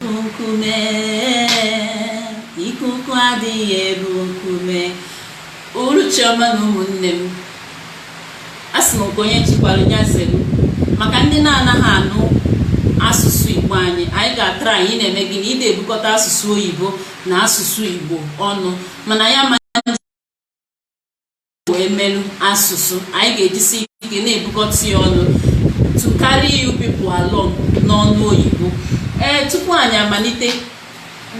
nkume ikuku adịghị eru nkume uruchi ọma na ụmụnne m asị m nke onye chikwara ya zere maka ndị na-anaghị anụ asụsụ igbo anyị anyị ga-atraị ị na-eme gịnị ị na-ebukọta asụsụ oyibo na asụsụ igbo ọnụ mana ya wee melu asụsụ anyị ga-ejisi ike na-ebukọta ya ọnụ to carry you people along n'ọnụ oyibo ee tupu anyị amalite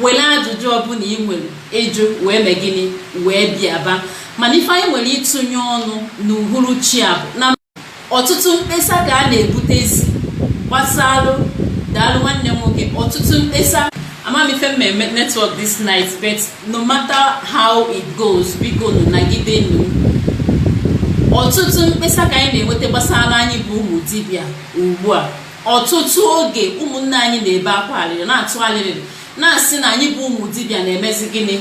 were ajụjụ ọbụla ị nwere ịjụ wee mee gịnị wee bịaba mana ife anyị nwere ịtụnye ọnụ n'uhuruchi a bụ na ọtụtụ mkpesa ka a na-ebutezi gbasalụ daalụ nwanne m nwoke ọtụtụ mkpesa ama m ife na-eme netwọk this night but no matter how it goes biko nụ nagide nụ ọtụtụ mkpesa ka anyị na-enweta gbasara anyị bụ ụmụ dibịa ugbu a ọtụtụ oge ụmụnne anyị na-ebe akwa alịrị na-atụ alịrị na-asị na anyị bụ ụmụ dibịa na-emezi gịnị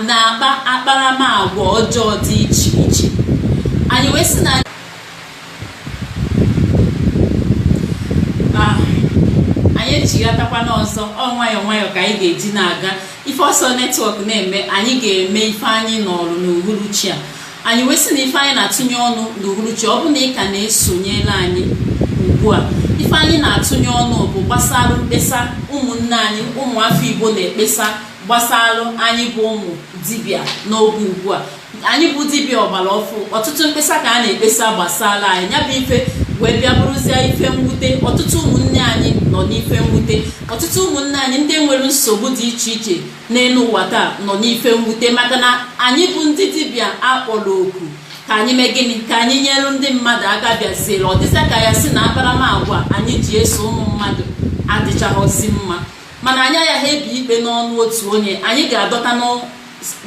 na-akpa akparamagwa ọjọọ dị iche iche anyị wee sị na ah, anyị echighatakwa n'ọzọ ọ nwayọọ nwayọọ ka anyị ga-eji na-aga ife ọ sọ netwọk na-eme anyị ga-eme ife anyị nọọrụ n'uhuruchi a anyị wee sị na ife anyị na-atụnye ọnụ n'uhuruchi ọ bụ na ị ka na-esonyela anyị ugbu a ife anyị na-atụnye ọnụ bụ gbasara mkpesa ụmụnne anyị ụmụafọ igbo na-ekpesa gbasara anyị bụ ụmụ dibịa n'oge ugbu a anyị bụ dibịa ọgbara ọfụ ọtụtụ mkpesa ka a na-ekpesa gbasara anyị ya bụ ife wee bịa bụrụzie ife mwute ọtụtụ ụmụnne anyị nọ n'ife mwute ọtụtụ ụmụnne anyị ndị nwere nsogbu dị iche iche n'elu ụwa taa nọ n'ife mwute maka na anyị bụ ndị dibịa a kpọrọ oku ka anyị mee gịnị ka anyị nyere ndị mmadụ aka bịaziere ọ dịzịa ka ya sị na akparamagwa anyị ji eso ụmụ mmadụ adịchaghọzi mma mana anyị agaghị ebi ikpe n'ọnụ otu onye anyị ga-adọta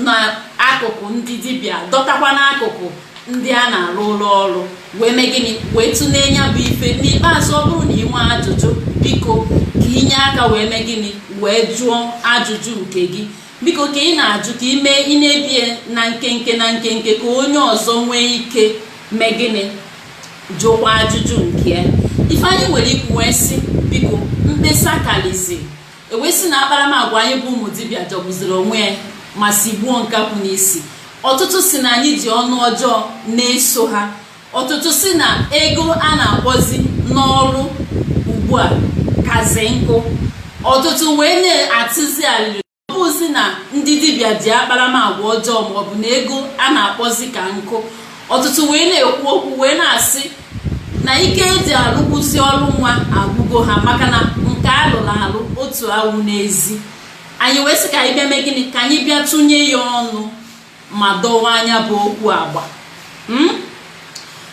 n'akụkụ ndị dibịa dọtakwa n'akụkụ ndị a na-arụrụ ọrụ wee mee gịnị wee tụlee ya bụ ife n'ikpeazụ ọ bụrụ na ị nwee ajụjụ biko ka i nye aka wee mee gịnị wee jụọ ajụjụ nke gị biko ka ị na-ajụ ka i mee ị na-ebie na nkenke na nkenke ka onye ọzọ nwee ike mee gịnị jụkwa ajụjụ nke ya ife anyị nwere ikwu wee sị biko mkpesa kalizi e wee sị na akparamagwa anyị bụ ụmụ dibịa jọgbuziri onwe ya ma sigbuo nkakwụ n'isi ọtụtụ sị na anyị ji ọnụ ọjọọ na-eso ha ọtụtụ sị na ego a na-akpọzi n'ọrụ ugbu a kazi nku ọtụtụ wee na-atụzi alịrị ọ bụzi na ndị dibịa ji akparamagwa ọjọọ maọbụ na ego a na-akpọzi ka nku ọtụtụ wee na-ekwu okwu wee na-asị na ike eji alụkwụsị ọrụ nwa agwụgo ha maka na nke alụrụ alụ otu awụ n'ezi anyị wee sị ka anyị bịa mee gịnị ka anyị bịa tụnye ya ọnụ ma dọwa anya bụ okwu agba hmm?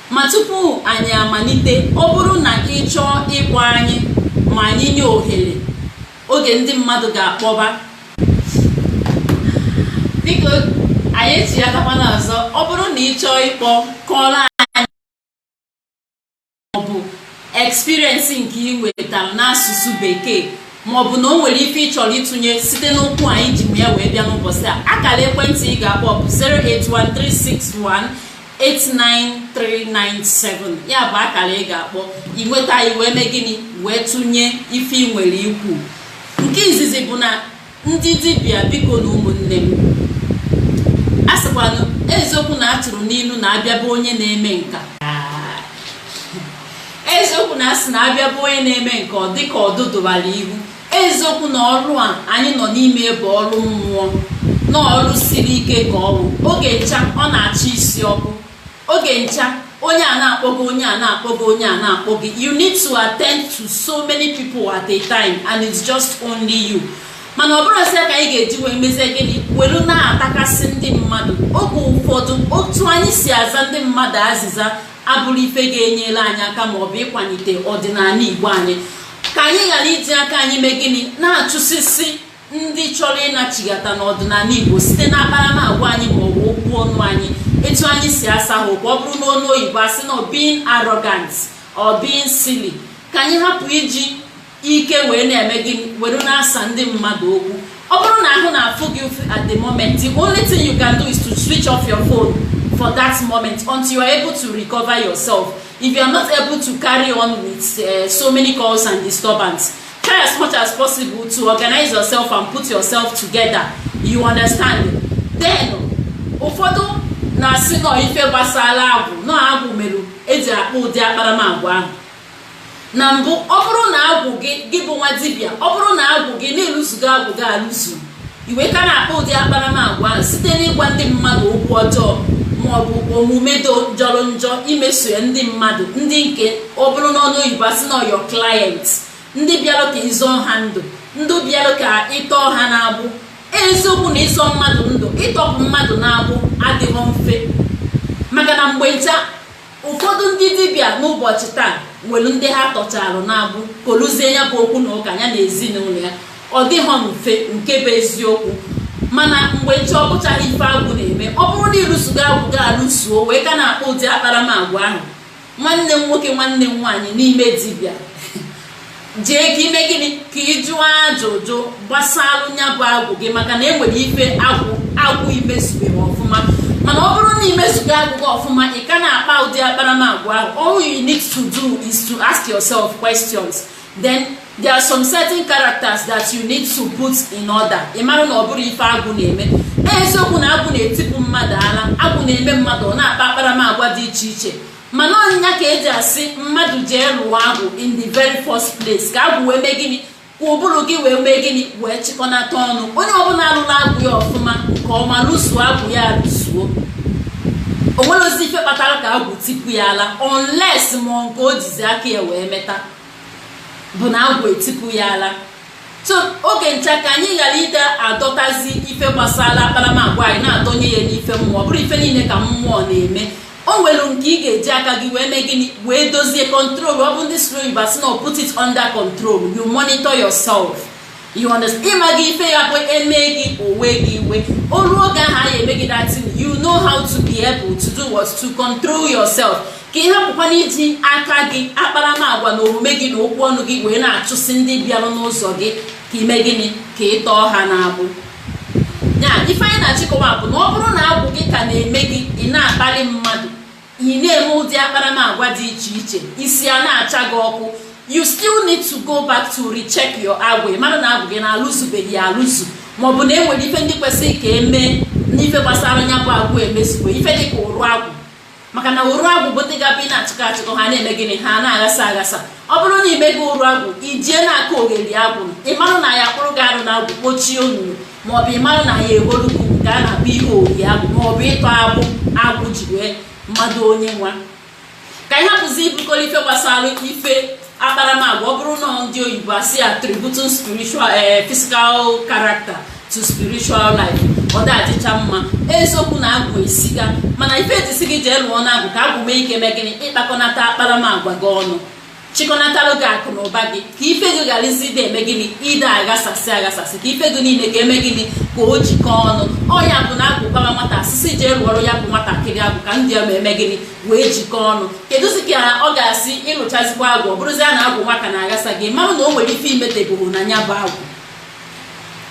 ma tupu anyị amalite ọ bụrụ na ị chọọ ịkpọ anyị ma anyị nye ohere oge ndị mmadụ ga-akpọba biko anyị echi ya takwana ọzọ ọ bụrụ na ị chọọ ịkpọ kọọrọ anyị maọbụ experience nke i nwetara n'asụsụ bekee maọbụ na o nwere ife ị chọrọ ịtụnye site n'okwu anyị ji ya wee bịa n'ụbọchị a akara ekwentị ị ga-akpọ bụ 0813661 89397 ya bụ akara ị ga-akpọ i nweta anyị wee mee gịnị wee tụnye ife i nwere ikwu nke izizi bụ na ndị dibịa bikonụ ụmụnne m a sịkwanụ eziokwu na a tụrụ n'ilu na a bịa be onye na-eme nka eziokwu na a sị na a bịa be onye na-eme nka ọ dịka ọdụ dụbara ihu eziokwu na ọrụ a anyị nọ n'ime bụ ọrụ mmụọ na ọrụ siri ike ka ọnwụ oge ncha ọ na-achị isi ọkụ oge ncha onye a na-akpọ gị onye a na-akpọ gị onye a na-akpọ gị you need to attend to so many people at a time and it's just only you mana ọ bụrọ sịa ka anyị ga-eji wee mezie gịnị welu na-atakasị ndị mmadụ oge ụfọdụ otu anyị si aza ndị mmadụ azịza abụrọ ife ga-enyere anyị aka ma ọ bụ ịkwalite ọdịnala igbo anyị ka anyị ghara iji aka anyị mee gịnị na-achụsisi ndị chọrọ ịnachighata n'ọdịnala igbo site na akparamagwa anyị ma ọ bụ okwu ọnụ anyị etu anyị si asa ha okwu ọ bụrụ n'ọnụ oyibo a sị na being arrogant or being silly ka anyị hapụ iji ike wee na-eme gịnị were na-asa ndị mmadụ okwu ọ bụrụ na ahụ na-afụ gị ụfụ at the moment the only thing you can do is to switch off your phone for that moment until you are able to recover yourself if you are not able to carry on with uh, so many calls and disturbance try as much as possible to organize yourself and put yourself together you understand then ụfọdụ na-asị na ọ ife gbasara agwụ na ọ agwụ mere e ji akpa ụdị akparamagwa ahụ na mbụ ọ bụrụ na agwụ gị gị bụ nwa dibịa ọ bụrụ na agwụ gị na a lụzugo agwụ gị alụzu i wee ka na-akpa ụdị akparamagwa ahụ site n'ịgwa ndị mmadụ okwu ọjọọ ma ọ bụ omume jọrọ njọ imeso ya ndị mmadụ ndị nke ọ bụrụ n'ọnụ oyibo a sị na ọ your client ndị bịara ka ị zọọ ha ndụ ndị bịara ka ị tọọ ha n'agbụ eziokwu na ịzọ mmadụ ndụ ịtọpụ mmadụ n'agbụ adịghị mfe maka na mgbe ncha ụfọdụ ndị dibịa n'ụbọchị taa nwere ndị ha tọcharụ n'agbụ koluzie nya bụ okwu na ụka ya na ezinụlọ ya ọ dịghọ mfe nke bụ eziokwu mana mgbe ncha ọ bụchaghị ife agwụ na-eme ọ bụrụ na ịlụsugo agwụ gị alụsuo wee ka na-akpa ụdị akparamagwa ahụ nwanne m nwoke nwanne m nwaanyị n'ime dibịa jee ka ime gịnị ka ị jụọ ajụjụ gbasalụ nya bụ agwụ gị maka na enwere ife agwụ agwụ imezubeghị ọfụma mana ọ bụrụ na imezugo agwụ gị ọfụma ị ka na-akpa ụdị akparamagwa ahụ all you need to do is to ask yourself questions then there are some certain characters that you need to put in order ị mara na ọ bụrọ ife agwụ na-eme eziokwu na agwụ na-etipụ mmadụ ala agwụ na-eme mmadụ ọ na-akpa akparamagwa dị iche iche mana ọ nya ka eji asị mmadụ jee lụọ agwụ in the very first place ka agwụ wee mee gịnị ka ụbụrụ gị wee mee gịnị wee chịkọnata ọnụ onye ọbụla alụla agwụ ya ọfụma nke ọma lụsuo agwụ ya alụsuo o nwerọzi ife kpatara ka agwụ tipu ya ala unless ma ọ nke o jizi aka ya wee meta bụ na agwụ etipu ya ala so oge ncha ka anyị ghara ịdị adọtazi ife gbasara akparamagwa anyị na-adọnye ya n'ife mmụọ ọ bụrọ ife niile ka mmụọ na-eme o nwere nke ị ga-eji aka gị wee mee gịnị wee dozie control ọ bụ ndị sụrụ oyibo asị na put it under control you monitor yourself you understand ị mago ife ya-abụ eme gị o wee gị iwe o rue oge ahụ a ya-eme gị that thing you know how to be able to do what to control yourself ka ị hapụkwana iji aka gị akparamagwa na omume gị na okwu ọnụ gị wee na-achụsi ndị bịara n'ụzọ gị ka ime gịnị ka ị tọọ ha n'agbụ ya ife anyị na-achọ ịkọwa bụ na ọ bụrụ na agwụ gị ka na-eme gị ị na-akpali mmadụ ị na-eme ụdị akparamagwa dị iche iche isi a na-acha gị ọkụ you still need to go back to recheck your agwụ mara na agwụ gị na alụzubeghị alụzu maọbụ na enwere ife ndị kwesịrị ka emee n'ife gbasara nya bụ agwụ emezughọ ife dịka ụrụ agwụ maka na ụrụ agwụ bụ ụdị ga-abụ ị na-achịkọ achịkọ ha na-eme gịnị ha na-aghasa aghasa ọ bụrụ na ime gị ụrụ agwụ ijie na-aka ogeli agwụ ịmarụ na ya kpụrụ gị arụ na agwụ kpochie onunu maọbụ ịmarụ na ya eholu gị nke a na-akpọ ihe ogeli agwụ maọbụ ịtọ agbụ agwụ ji wee mmadụ onye nwa ka anyị hapụzi ibukọrọ ife gbasara ife akparamagwa ọ bụrụ na ndị oyibo asị ya attributing spiritual eh, physical character to spiritual life ọ dịcha mma eziokwu na agwụ esika mana ife eji sị gị jee lụọ na agwụ ka agwụ nwee ike mee gịnị ịkpakọnata akparamagwa gị ọnụ chịkọnatalụ gị akụ na ụba gị ka ife gị gharazi ịdị eme gịnị ịdị aghasasị aghasasị ka ife gị niile ka eme gịnị ka o jikọọ ọnụ ọ ya bụ na agwụ gbara nwata a sị sị jee lụọrọ ya bụ nwatakịrị agwụ ka ndị ya ma eme gịnị wee jikọọ ọnụ kedụzi ka ọ ga-asị ị rụchazikwa agwụ ọ bụrụzia na agwụ nwa ka na-aghasa gị mara na o nwere ife imetebụrụ na ya bụ agwụ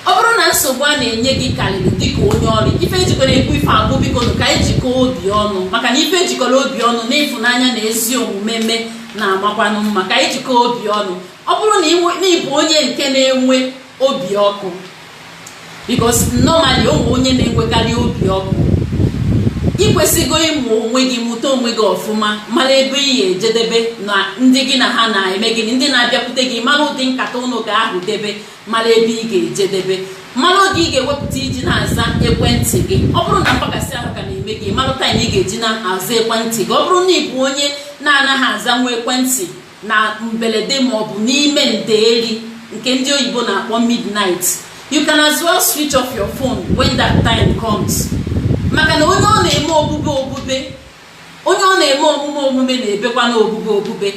ọ bụrụ na nsogbu a na-enye gị karịrị dịka onye ọrụ ife ejikọrọ ekwu ife a bụ biko nụ ka anyị jikọọ obi ọnụ maka na ife ejikọrọ obi ọnụ na ịfụnanya na ezi omume mee na-amakwanụ mma ka anyị jikọọ obi ọnụ ọ bụrụ na ịbụ onye nke na-enwe obi ọkụ because normally o nwere onye na-enwekarị obi ọkụ ị kwesịgo ịmụ onwe gị mụta onwe gị ọfụma mara ebe ị ga-ejedebe na ndị gị na ha na-eme gịnị ndị na-abịakwute gị mara ụdị nkata ụnụ ga-ahụ debe mara ebe ị ga-ejedebe mara oge ị ga-ewepụta iji na-aza ekwentị gị ọ bụrụ na mgbakasị ahụ ka na-eme gị mara taịm ị ga-eji na-aza ekwentị gị ọ bụrụ na ị bụ onye na-anaghị azanwu ekwentị na mbelede ma ọ bụ n'ime ndeeri nke ndị oyibo na-akpọ midnight you can as well switch off your phone when that time comes maka na onye ọ na-eme obube obube onye ọ na-eme omume omume na-ebekwanụ obube obube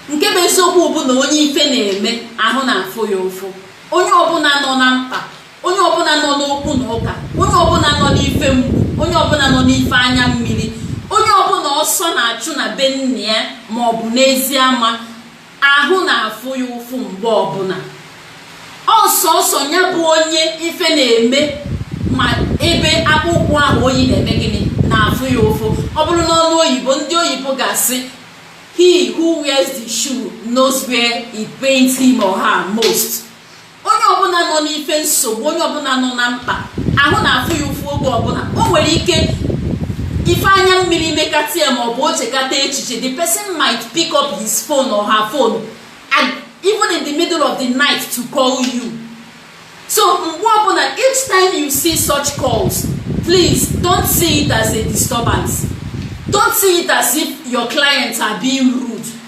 nke bụ eziokwu bụ na onye ife na-eme ahụ na-afụ ya ụfụ onye ọbụla nọ na mkpa onye ọbụla nọ n'okwu na ụka onye ọbụla nọ n'ife mgbu onye ọbụla nọ n'ife anya mmiri onye ọbụla ọsọ na-achụ na be nna ya ma ọ bụ n'ezi ama ahụ na-afụ ya ụfụ mgbe ọbụla ọ sọọsọ ya bụ onye ife na-eme ma ebe akpụkwụ ahụ o yi na-eme gịnị na-afụ ya ụfụ ọ bụrụ n'onu oyibo ndị oyibo ga-asị he who wears the shoe knows where it pains him or her most onye ọbụla nọ n'ife nsogbu onye ọbụla nọ na mkpa ahụ na-afụ ya ụfụ oge ọbụla o nwere ike ife anya mmiri mekata ya maọbụ o chekata echiche the person might pick up his phone or her phone and even in the middle of the night to call you so mgbe ọbụla each time you see such calls please don't see it as a disturbance don't see it as if your clients are being rude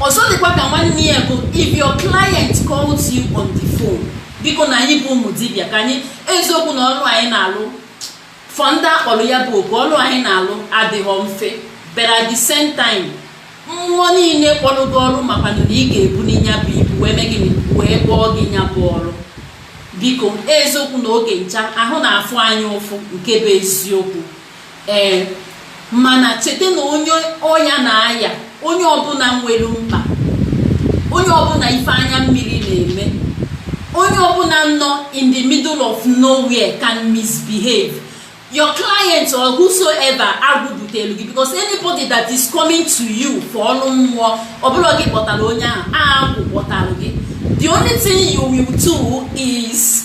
ọzọ dịkwa ka nwanne ya bụ if your client calls you on the phone biko na anyị bụ ụmụ dibịa ka anyị eziokwu na ọrụ anyị na-alụ for ndị a kpọrọ ya bụ oku ọrụ anyị na-alụ adịghọ mfe but at the same time mmụọ niile kpọrọ gị ọrụ makwanụ na ị ga-ebuni nya bụ ibu wee mee gịnị wee kpọọ gị nya bụ ọrụ biko eziokwu na oge ncha ahụ na-afụ anyị ụfụ nke bụ eziokwu ee mana cheta na onye ọya na-aya onye ọbụla nwere mkpa onye ọbụla ife anya mmiri na-eme onye ọbụla nọ in the middle of nowhere can misbehave your client or whosoever agwụ butelụ gị because anybody that is coming to you for ọrụ mmụọ ọ bụrọ gị kpọtara onye ahụ agwụ kpọtara gị the only thing you will do is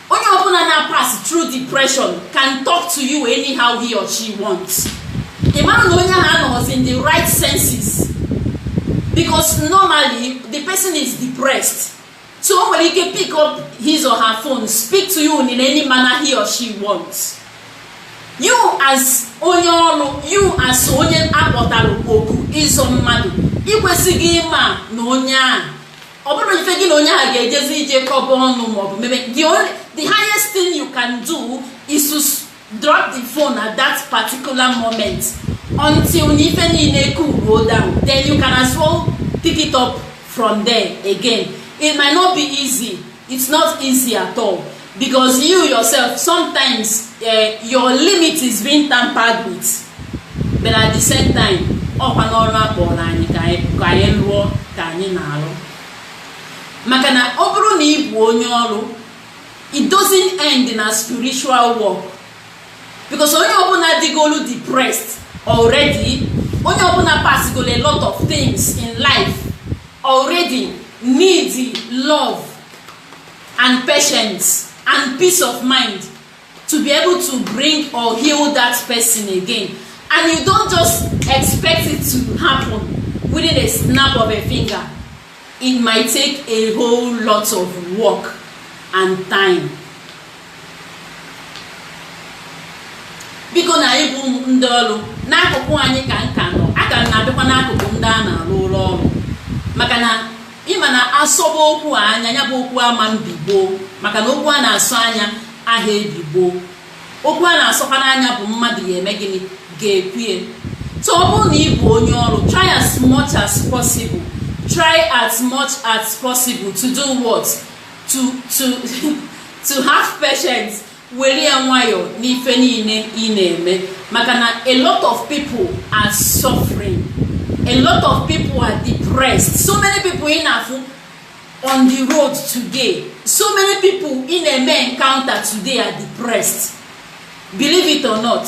onye ọbụla na-pass through depression can talk to you anyhow he or she wants ị mara na onye ahụ anọghọzi in the right senses because normally the person is depressed so o nwere ike pick up his or her phone speak to you in any manner he or she wants you as onye ọrụ you as onye a kpọtara oku ịzọ mmadụ ị kwesịghị ịma na onye a ọ bụrọ ife gị na onye ahụ ga-ejezi ije kọba ọnụ maọbụ meme the only the highest thing you can do is to s- drop the phone at that particular moment until na ife niile cool down then you can as well pick it up from there again it might not be easy it's not easy at all because you yourself sometimes uh, your limit is being tampered with but at the same time ọkwa na ọrụ a kpọrọ anyị ka anyị rụọ ka anyị na-arụ maka na ọ bụrụ na ị bụ onye ọrụ it doesn't end na spiritual work because onye ọbụla dịgolu depressed already onye ọbụla passgolu a lot of things in life already need love and patience and peace of mind to be able to bring or heal that person again and you don't just expect it to happen within a snap of a finger it might take a whole lot of work and time biko na anyị bụ ndị ọrụ n'akụkụ anyị ka m ka nọ aka m na-abịakwa n'akụkụ ndị a na-arụlụ ọrụ maka na Ị ma na a sọba okwu anya, ya bụ okwu ama mbi gboo maka na okwu a na-asọ anya aha ebi gboo. Okwu a na-asọkwanụ anya bụ mmadụ ya eme gịnị ga-ekwu ya. So ọ bụrụ na ị bụ onye ọrụ, try try as much as possible to do what to to to have patience were ya nwayọọ n'ife niile ị na-eme maka na a lot of people are suffering a lot of people are depressed so many people ị na-afụ on the road today so many people ị na-eme encounter today are depressed believe it or not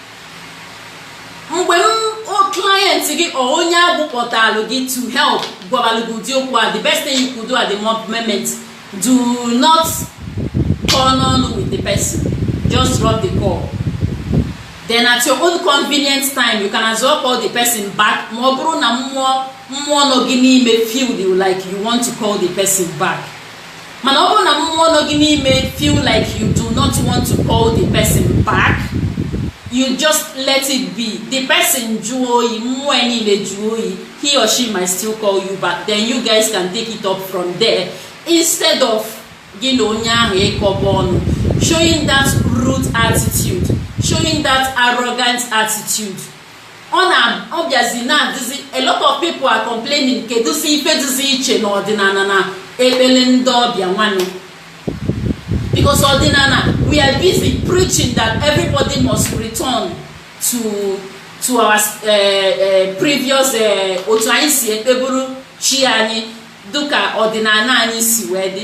mgbe client gị or onye a kpọtalụ gị to help gwabalụ gị ụdị okwu a the best thing you could do at the moment do not kọọ ọnụ with the person just drop the call then at your own convenient time you can as well call the person back ma ọ bụrụ na mmụọ nọ gị n'ime feel like you want to call the person back mana ọ bụrụ na mmụọ nọ gị n'ime feel like you do not want to call the person back you just let it be the person jụọ oyi mmụọ ya niile jụọ oyi he or she might still call you back then you guys can take it up from there instead of gị na onye ahụ ịkọba ọnụ showing that rude attitude showing that arrogant attitude ọ na ọ bịazi na-adịzi a lot of people are complaining kedụzi ife dịzi iche na ọdịnala na ekpere ndị ọbịa nwanụ because ọdịnala we are busy preaching that everybody must return to to our uh, uh, previous uh, otu anyị si ekpeburu chi anyị dịka ọdịnala anyị si wee dị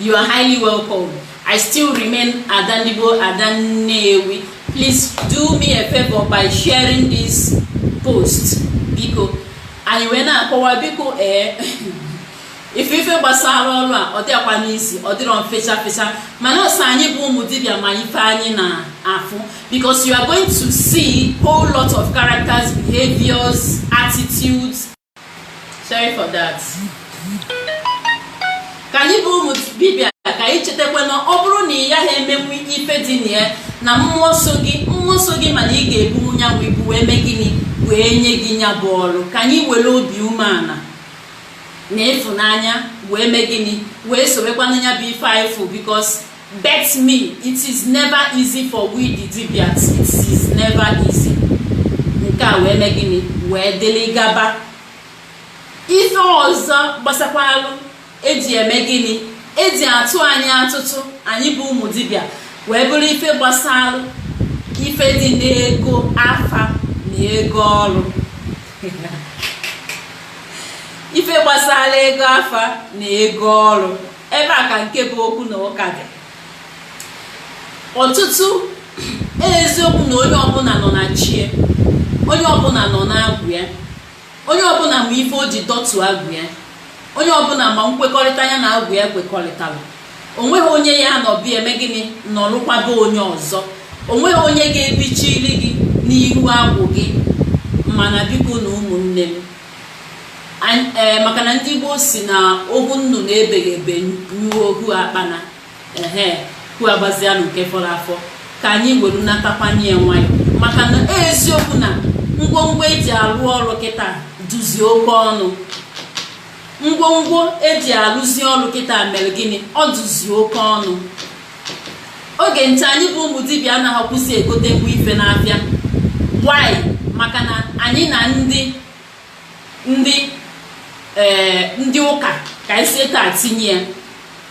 You are highly welcome. I still remain Ada Ndigbo Ada Nnewi. Please do me a favor by sharing this post. Biko, anyị wee na-akọwa biko ee eh, ife ife gbasara ọrụ a ọ dịakwanụ easy ọ dịrọ fecha fecha mana ọ sọ anyị bụ ụmụ dibịa ma ife anyị na-afụ because you are going to see whole lot of characters behaviors attitudes sorry for that ka anyị bụ ụmụ dibịa ka anyị chetakwa na ọ bụrụ na ị gaghị emenwu ife dị na ya na mmụọ so gị mmụọ so gị ma na ị ga-ebunwu ya bụ ibu wee mee gịnị wee nye gị ya bụ ọrụ ka anyị were obi umeala na ịfụnanya wee mee gịnị wee sobekwanụ ya bụ ife anyị fụ biko Bet me it is never easy for we the Dibias it is never easy nke a wee mee gịnị wee dịrị gaba ife ọzọ gbasakwalụ eji eme gịnị eji atụ anyị atụtụ anyị bụ ụmụ dibịa wee bụrụ ife gbasalụ ife dị n'ego afa na ego ọrụ ife gbasara ego afa na ego ọrụ ebe a ka nke bụ okwu na ụka dị ọtụtụ eziokwu na onye ọbụla nọ na chi e onye ọbụla nọ n'agwụ ya onye ọbụla ma ife o ji dọtụ agwụ ya onye ọbụla ma nkwekọrịta ya na agwụ ya kwekọrịtara onweghị onye ya anọ be e mee gịnị nọrụkwaba onye ọzọ onweghị onye ga-ebichiri gị n'iru agwụ gị mana bikonụ ụmụnne m ee maka na ndị gboo si na ohu nnụnụ ebeghị ebe nyụọ ohu akpana ehe hu agbazianụ nke fọrọ afọ ka anyị were natakwanye ya nwayọ maka na e eziokwu na ngwongwo eji arụ ọrụ kịta dịzi oke ọnụ ngwongwo eji arụzi ọrụ kịta mere gịnị ọ dịzi oke ọnụ oge ncha anyị bụ ụmụ dibịa anaghịkwazi egotenwu ife n'afịa why maka na anyị na ndị ndị ee eh, ndị ụka ka anyị si etu a tinye ya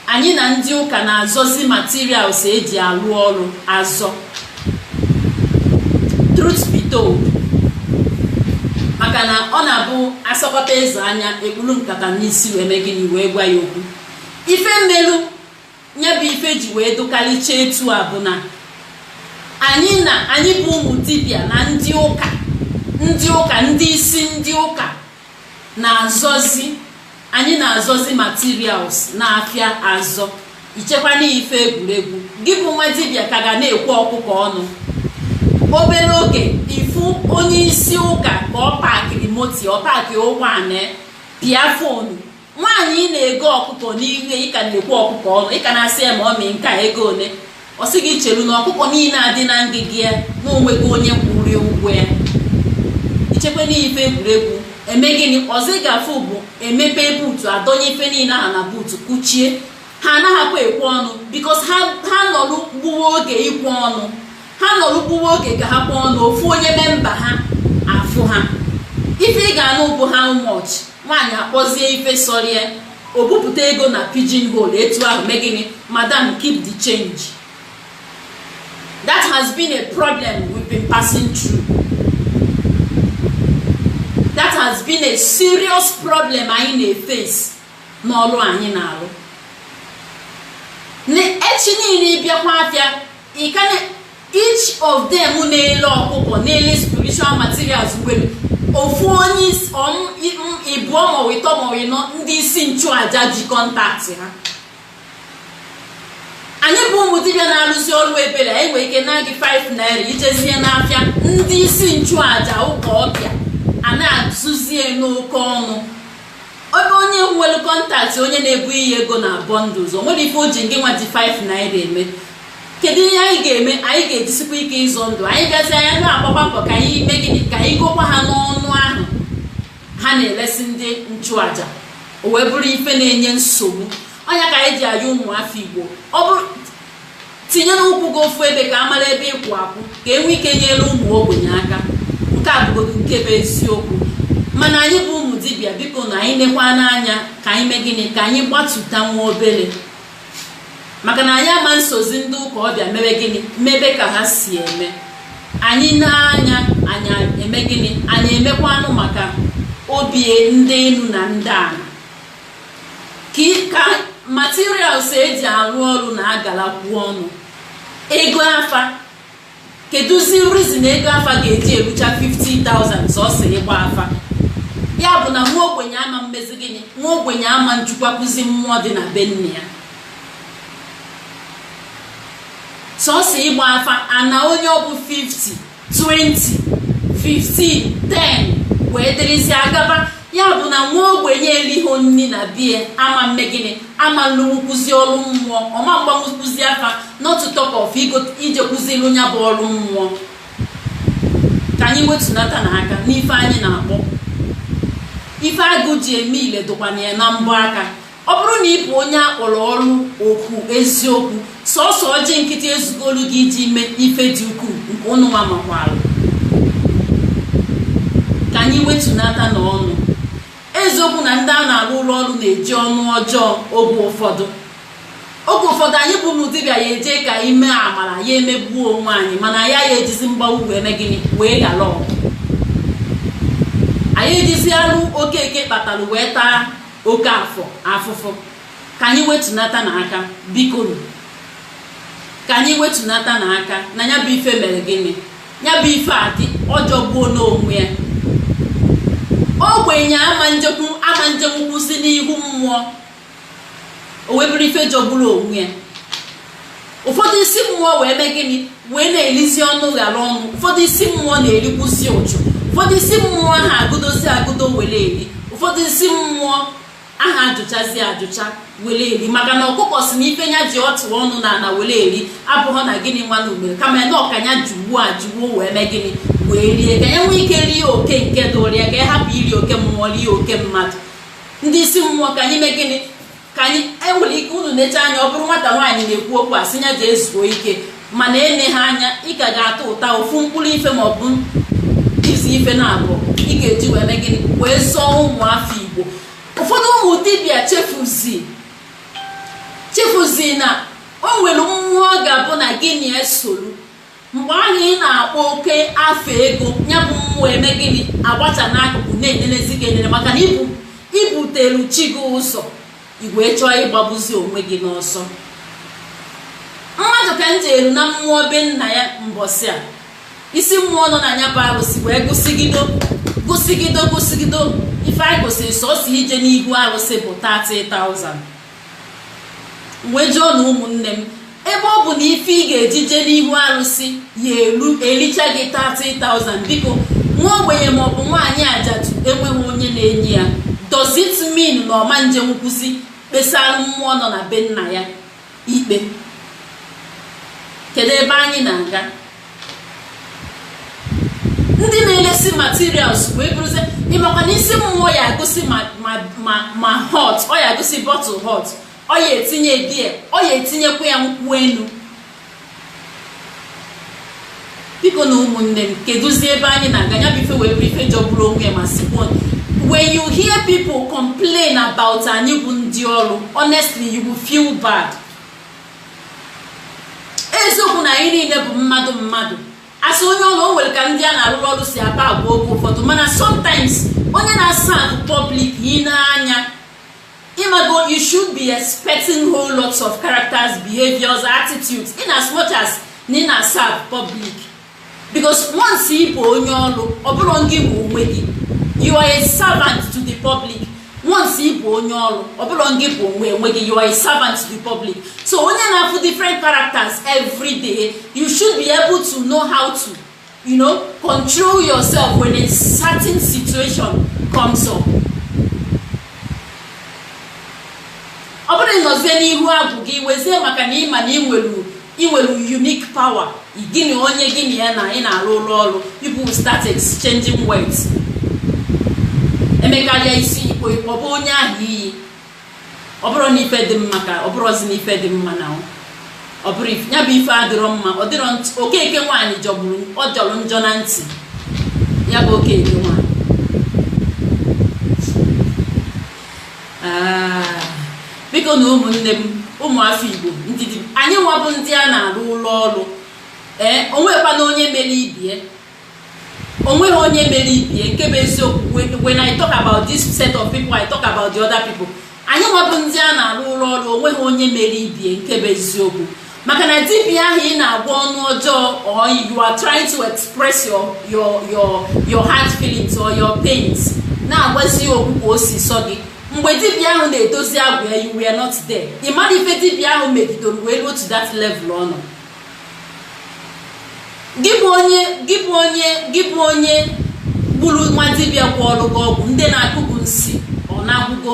anyị na ndị ụka na-azọzi materials eji alụ ọrụ azọ truth be told maka na ọ na-abụ a sọkata eze anya ekpuru nkata n'isi wee mee gịnị wee gwa ya okwu ife melu ya bụ ife ji wee dịkarịcha etu a bụ na anyị na anyị bụ ụmụ dibịa na ndị ụka ndị ụka ndị isi ndị ụka na-azọzi anyị na-azọzi materials n'afịa azọ i chekwa na ife egwuregwu gị bụ nwa dibịa ka ga na-ekwe ọkụkọ ọnụ obere oge ị fụ onye isi ụka ka ọ pakịrị moto ọ pakị ụgbọala pịa fonu nwaanyị ị na-ego ọkụkọ n'ihe ị ka na-ekwe ọkụkọ ọnụ ị ka na-asị ya mummy nke a ego ole ọ sị gị chelu na ọkụkọ niile a dị na ngịga ya na o nwego onye kwụrụ ụgwọ ya i chekwa na ife egwuregwu eme gịnị ọzọ ị ga-afụ bụ emepe buutu adọnye ife niile ahụ na buutu kụchie ha anaghịkwa ekwe ọnụ bikos ha nọrụ gbuo oge ikwe ọnụ ha nọrụ gbuwe oge ka ha kwe ọnụ ofu onye memba ha afụ ha ife ị ga-anụ bụ how much nwaanyị akpọzie ife sọrọ ya o bupụta ego na pigeon hole etu ahụ mee gịnị madam keep the change that has been a problem we've been passing through that has been a serious problem anyị na-efesi n'ọrụ anyị na-arụ echi niile ị bịakwa afịa Ị ka na each of them na-ele ọkụkọ na-ele spiritual materials nwere ofu onye is- ọm i- m- ịbụọ maọbụ ịtọ maọbụ ịnọ ndị isi nchụaja ji kọntaktị ha anyị bụ ụmụ dibịa na-arụzi ọrụ ebere anyị nwere ike naa gị 5 naira i jezie n'afịa ndị isi nchụaja ụka ọbịa a na-azụzie n'oke ọnụ ebe onye nwere kọntaktị onye na-ebunye ya ego na bọndụls o nwere ife o ji ngị nwa ji 5 naira eme kedu ihe anyị ga-eme anyị ga-ejisikwa ike ịzọ ndụ anyị gazi anya na-agbakwa mbọ ka anyị mee gịnị ka anyị gokwa ha n'ọnụ ahụ ha na-eresi ndị nchụaja o wee bụrụ ife na-enye nsogbu ọ nya ka anyị ji ayọ ụmụafọ igbo ọ bụrụ tinyere ụkwụ gị ofu ebe ka a mara ebe ị kwụ akwụ ka e nwee ike nyere ụmụ ogbenye aka nke a bụgodu nke bụ eziokwu mana anyị bụ ụmụ dibịa bikonu anyị nekwanụ anya ka anyị mee gịnị ka anyị gbatuta nwa obere maka na anyị ama esozi ndị ụka ọbịa mee gịnị mebe ka ha si eme anyị nee anya anyị eme gịnị anyị emekwanụ maka obi ndị enu na ndị ana ka materials eji arụ ọrụ na-agalakwu ọnụ ego afa kedụzi reason ego afa ga-eji erucha 50,000 sọsọ ịgba afa ya bụ na nwa ogbenye ama mmezi gịnị nwa ogbenye ama njikwakwuzi mmụọ dị na be nna ya sọsọ ịgba afa ana onye ọ bụ 50 20 15 10 wee dịrịzi agaba ya bụ na nwa ogbenye eliho nri na bie ama mme gịnị ama nlụnwukwuzi ọrụ mmụọ ọ ma mgbanwukwuzi afa not to talk of ijekwuzi rụọ ya bụ ọrụ mmụọ ka anyị wetunata na aka n'ife anyị na-akpọ ife agụ ji eme ile dụkwana ya na mbọ aka ọ bụrụ na ị bụ onye a kpọrọ ọrụ oku eziokwu sọsọ ọjị nkịtị ezugolu gị iji mee ife dị ukwuu nke ụnụ nwa makwara ka anyị wetunata na ọnụ eziokwu na ndị a na-arụrụ ọrụ na-eji ọnụ ọjọọ oge ụfọdụ oge ụfọdụ anyị bụ ụmụ dibịa ya eje ka anyị mee amara ya emegbuo onwe anyị mana ya ya ejizi mgbagbu wee mee gịnị wee ghara ọgụ anyị ejizi arụ okeke kpatara wee taa okeafọ afụfụ ka anyị wetunata na aka bikonu ka anyị wetunata na aka na ya bụ ife mere gịnị ya bụ ife a dị ọ jọgburu onwe ya ogbenye ama njekwu ama njekwukwuzi n'ihu mmụọ ọ wee bụrụ ife jọgburu onwe ya ụfọdụ isi mmụọ wee mee gịnị wee na-elizi ọnụ ghara ọnụ ụfọdụ isi mmụọ na-erikwuzi ụchụ ụfọdụ isi mmụọ aha agụdozi agụdo were eri ụfọdụ isi mmụọ aha ajụchazi ajụcha were eri maka na ọkụkọ si na ife ya ji atụ ọnụ na ala were eri abụghọ na gịnị nwa na ugbere kama na ọ ka nya jugbuo ajugbuo wee mee gịnị wee rie ka ya nwee ike rie oke nke dụrụ ya ka ya hapụ iri oke mmụọ rie oke mmadụ ndị isi mmụọ ka anyị mee gịnị ka anyị enwere ike unu na-eche anya ọ bụrụ nwata nwaanyị na-ekwu okwu a sị ya jee zuo ike mana ene ha anya ị ka ga-ata ụta ofu mkpụrụ ife ma ọ bụ isi ife na-abụ ị ga-eji wee mee gịnị wee zọọ ụmụ afọ igbo ụfọdụ ụmụ dibịa chefuzi chefuzi na o nwere mmụọ ga-abụ na gị na ya esoro mgbe ahụ ị na-akpọ oke afa ego ya bụ mmụọ eme gịnị agbacha n'akụkụ na-enelezi gị enele maka na i bu i butelu chi gị ụzọ ị wee chọọ ịgbagbuzi onwe gị n'ọsọ mmadụ ka njelu na mmụọ be nna ya mbọsị a isi mmụọ nọ na ya bụ arụsị wee gụsịgido gụsịgido gụsịgido ife anyị gụsịrị sọsọ ije n'ihu arụsị bụ 30,000 wee jụọ na ụmụnne m ebe ọ bụ na ife ị ga-eji jee n'ihu arụsị ya elu ericha gị 30,000 biko nwa ogbenye maọbụ nwaanyị ajadu enweghị onye na-enye ya does it mean na ọ ma nje nkwụsị kpesara mmụọ nọ na be nna ya ikpe kedu ebe anyị na-aga ndị na-elesi materials wee bụrụzie ịmakwa na isi mmụọ ya agụsị ma hot ọ ya agụsị bottle hot ọ ya etinye beer ọ ya etinyekwa ya nkwụ enu bikonu ụmụnne m kedụzi ebe anyị na-aga ya bụ ife wee bụ ife jọgburu onwe ya ma sikwa when you hear people complain about anyị bụ ndị ọrụ honestly you will feel bad eziokwu na anyị niile bụ mmadụ mmadụ as onye ọrụ o nwere ka ndị a na-arụrụ ọrụ si akpa agwa oge ụfọdụ mana sometimes onye na-aserve the public ya-ene anya ịmago you should be expecting whole lots of characters behaviors attitudes in as much as na ị na-aserve the public because once ị bụ onye ọrụ ọ bụrọ gị bụ onwe gị you are a servant to the public once ị bụ onye ọrụ ọ bụrọ gị bụ onwe onwe gị you are a servant to the public so onye na-afụ different characters every day you should be able to know how to you know control yourself when a certain situation comes up ọ bụrọ ịnọzie n'ihu agwụ gị wezie maka na ị ma na ị nwere ị nwere unique power gị na onye gị na ya na ị na-arụrụ ọrụ people will start exchanging words emekarịa isi ịkpọ ịkpọ bụ onye ahụ iyi ọ bụrụ na ife dị mma ka ọ bụrụzi na ife dị mma na ọ bụrụ ya bụ ife adịrọ mma ọ dịrọ okeke nwaanyị jọgburu ọ jọrọ njọ na ntị ya bụ okeke nwaanyị bikonu ụmụnne m ụmụafọ igbo ndị anyị nwa bụ ndị a na-arụrụ ọrụ ee o nweghịkwanụ onye mere ibe ya o nweghị onye mere ibe ya nke bụ eziokwu when i talk about this set of people i talk about the other people anyị nwa bụ ndị a na-arụrụ ọrụ o nweghị onye mere ibe ya nke bụ eziokwu maka na dibia ahụ ị na-agwa ọnụ ọjọọ or you are trying to express your your your your heart feelings or your pains na-agwazi ya okwu ka o si sọ gị mgbe dibia ahụ na-edozi agwụ ya you were not there ị marọ ife dibia ahụ megidoro wee ruo to that level ọ nọ gị bụ onye gị bụ onye gị bụ onye gburu nwa dibia gwọọrụ gị ọgwụ ndị na-akụ gị nsi ọ na-agwụgo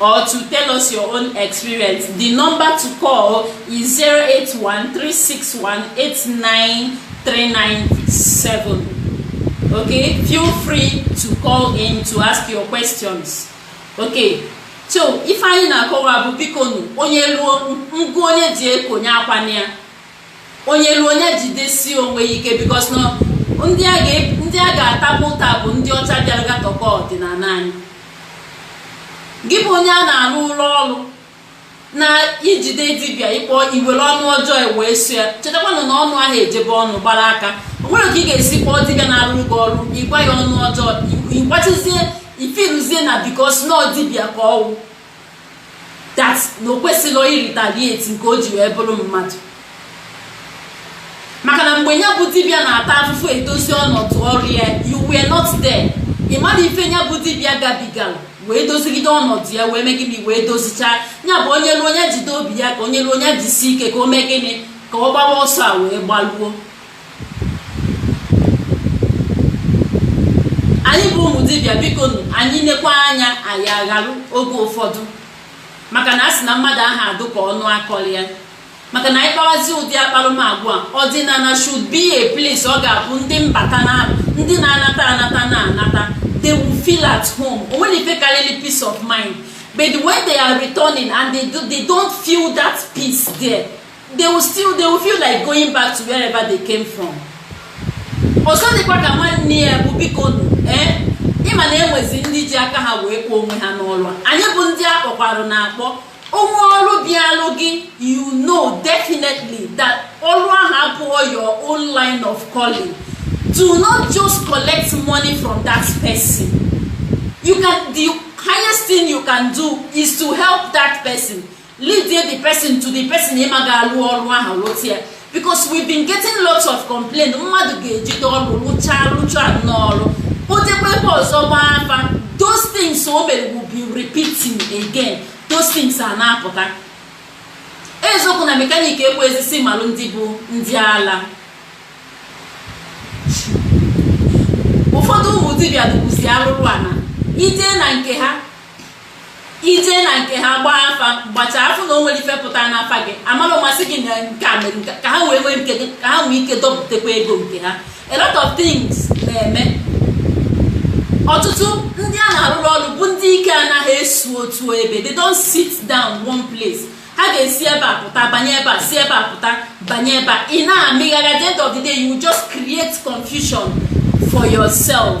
or to tell us your own experience, the number to call is 08136189397. Okay, feel free to call in to ask your questions. Okay, so ife anyị na-akọwa bụ bikonụ onye ruo ngụ onye ji ekonye akwa ya onye luo onye jidesi onwe ya ike because na ndị a ga- ndị a ga-atabụ ụta bụ ndị ọcha bịara gatọkọ ọdịnala anyị gị bụ onye a na-arụrụ ọrụ na i jide dibịa ị kpọ i were ọnụ ọjọọ e wee sụ ya chetakwanụ na ọnụ aha eje be ọnụ gbara aka o nwere ka ị ga-esi kpọọ dibịa na-arụ gị ọrụ ị gwa ya ọnụ ọjọọ ị gwasịzie i feel-uzie na because na ọ dibịa ka ọ wụ that na o kwesịghị ị-retaliate nke o ji wee bụrụ mmadụ maka na mgbe ya bụ dibịa na-ata afụfụ edozi ọnọdụ ọrụ ya you were not there ị marọ ife ya bụ dibịa gabigara wee dozigide ọnọdụ ya wee mee gịnị wee dozichaa ya bụ onye ruo onye jide obi ya aka onye ruo onye jisi ike ka o mee gịnị ka ọ gbawa ọsọ a wee gbaluo anyị bụ ụmụ dibịa biko anyị nekwa anya anyị agharụ oge ụfọdụ maka na a sị na mmadụ aha adị ka ọnụ a kọrọ ya maka na anyị kpawazi ụdị akparamagwa ọdịnala should be a place ọ ga-abụ ndị mbata na ndị na-anata anata na-anata they will feel at home o nwere ife karịrị peace of mind but when they are returning and they, do, they don't feel that peace there they will still they will feel like going back to wherever they came from ọzọ dịkwa ka nwanne ya bụ biko nụ ee eh, ị ma na e nwezi ndị ji aka ha wee kpọọ onwe ha n'ọrụ a anyị bụ ndị a kpọkwaranụ akpọ o nwee ọrụ bịalụ gị you know definitely that ọrụ ahụ abụghị your own line of calling do not just collect money from that person you can the highest thing you can do is to help that person lead the person to the person ị ma ga-alụ ọrụ ahụ lụta ya because we've been getting lots of complaint mmadụ ga-ejide ọrụ lụchaa lụchaa n'ọrụ kpotekwa ebe ọzọ gbaa afa those things o mere will be repeating again those things a na-apụta eziokwu na mechanic ekweezi sị malụ ndị bụ ndị ala ụfọdụ ụmụ dibịa dịkwuzi arụrụana i je na nke ha i je na nke ha gbaa afa gbachaa a fụ na o nwere ife pụta n'afa gị a mara ụma sị gị na nke a mere nke a, ka ha wee nwee nke gị ka ha nwee ike dọpụtakwa ego nke ha a lot of things na-eme ọtụtụ ndị a na-arụrụ ọrụ bụ ndị ike anaghị esu otu ebe they don't sit down one place ha ga-esi ebe a pụta banye ebe a si ebe a pụta banye ebe a ị na-amagharị at the end of the day you will just create confusion for yourself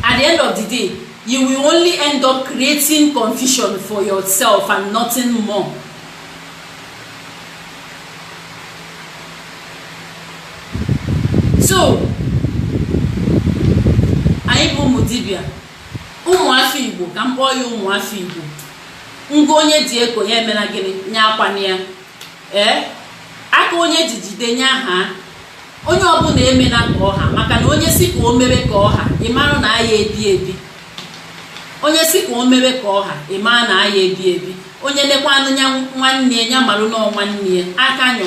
at the end of the day you will only end up creating confusion for yourself and nothing more so anyị bụ ụmụ dibia ụmụafọ igbo ka m kpọọ ya ụmụafọ igbo ngụ onye ji eko ya emena gịnị nya akwana ya ee aka onye jijide nya aka onye ọbụna emena ka ọha maka na onye si ka o mere ka ọha ị mara na a ya-ebi ebi onye lekwa anya nwanne ya marụ na ọ nwanne ya aka nyụ